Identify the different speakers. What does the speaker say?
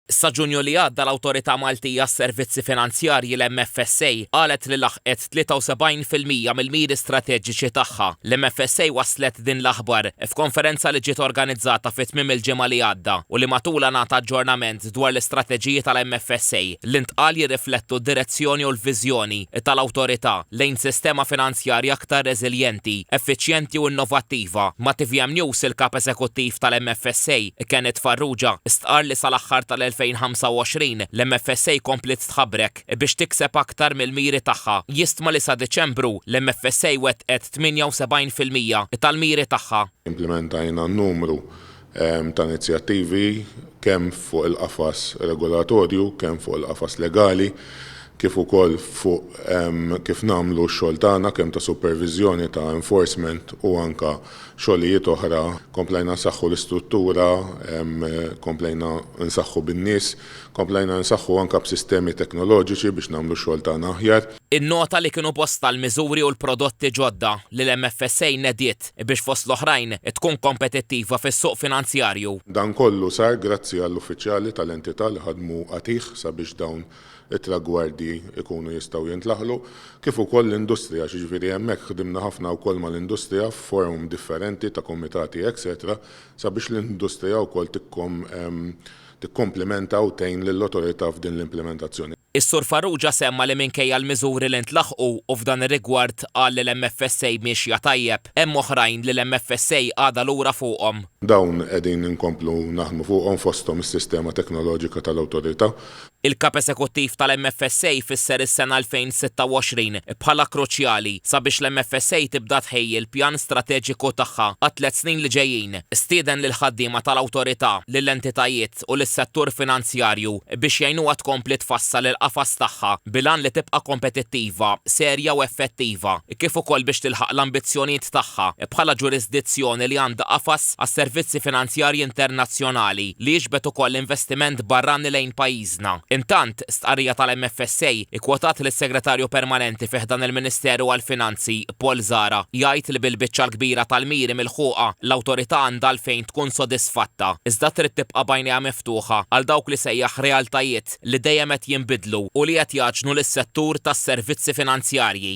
Speaker 1: Sa Ġunju li għadda l-Awtorità Maltija għas-Servizzi Finanzjarji, l-MFSA, qalet li laħqet 73 fil-mija mill-miri strateġiċi tagħha. L-MFSA wasslet din l-aħbar f'konferenza li ġiet organizzata fi tmiem il-ġimgħa li għadda u li matulha ngħata aġġornament dwar l-istrateġiji tal-MFSA li ntqal jirriflettu d-direzzjoni u l-viżjoni tal-Awtorità. lejn sistema finanzjarja aktar reżiljenti, effiċjenti u innovattiva. Ma' tvm News il-Kap Eżekuttiv tal-MFSA, Kenneth Farrugia, stqarr li sal-aħħar tal-2025 l-MFSA kompliet tħabrek biex tikseb aktar mill-miri tagħha. Jistma li sa Diċembru l-MFSA wettqet 78 fil-mija tal-miri tagħha. Implimentajna
Speaker 2: numru ta' inizjattivi kemm fuq il-qafas regolatorju, kemm fuq il-qafas legali, kif ukoll fuq kif nagħmlu x-xogħol tagħna kemm ta' superviżjoni, ta' enforcement u anke xogħlijiet oħra. Komplejna nsaħħu l-istruttura, komplejna nsaħħu bin-nies. Komplejna nsaħħu anke b'sistemi teknoloġiċi biex nagħmlu x-xogħol tagħna aħjar. Innota li kienu
Speaker 1: bosta l-miżuri u l-prodotti ġodda li l-MFSA nediet biex fost l-oħrajn tkun kompetittiva fis-suq finanzjarju. Dan kollu sar
Speaker 2: grazzi għall-uffiċjali tal-entità li ħadmu qatigħ sabiex dawn it-tragwardi jkunu jistgħu jintlaħlu, kif ukoll l-industrija, jiġifieri hemmhekk ħdimna ħafna wkoll mal-industrija f'forum differenti ta' kumitati etc sabiex l-industrija wkoll tikkom tikkomplimenta u tgħin lill-Awtorità f'din l-implimentazzjoni. Is-Sur Farrugia
Speaker 1: semma li minkejja l-miżuri li ntlaħqu, u f'dan ir-rigward qal li l-MFSA miexja tajjeb, hemm oħrajn li l-MFSA għadha lura fuqhom. Dawn qegħdin
Speaker 2: inkomplu naħdmu fuqhom fosthom is-sistema teknoloġika tal-Awtorità. Il-Kap
Speaker 1: Esekuttiv tal-MFSA fisser is-sena 2026 bħala kruċjali sabiex l-MFSA tibda tħejji l-pjan strateġiku tagħha għat-tliet snin li ġejjin. Stieden lill-ħaddiema tal-Awtorità, lill-entitajiet u lis-settur finanzjarju biex jgħinuha tkompli tfassal il-qafas tagħha bil-għan li tibqa' kompetittiva, serja u effettiva, kif ukoll biex tilħaq l-ambizzjonijiet tagħha bħala ġurisdizzjoni li għandha qafas għas-servizzi finanzjarji internazzjonali li jiġbed ukoll investiment barrani lejn pajjiżna. Intant, stqarrija tal-MFSA kkwotat lis-Segretarju Permanenti fi ħdan il-Ministeru għall-Finanzi, Paul Zahra, jgħid li bil-biċċa l-kbira tal-miri milħuqa, l-Awtorità għandha għalfejn tkun sodisfatta, iżda trid tibqa' b'għajnejha miftuħa għal dawk li sejjaħ realtajiet li dejjem qed jinbidlu u li qed jgħaġġnu lis-settur tas-servizzi finanzjarji.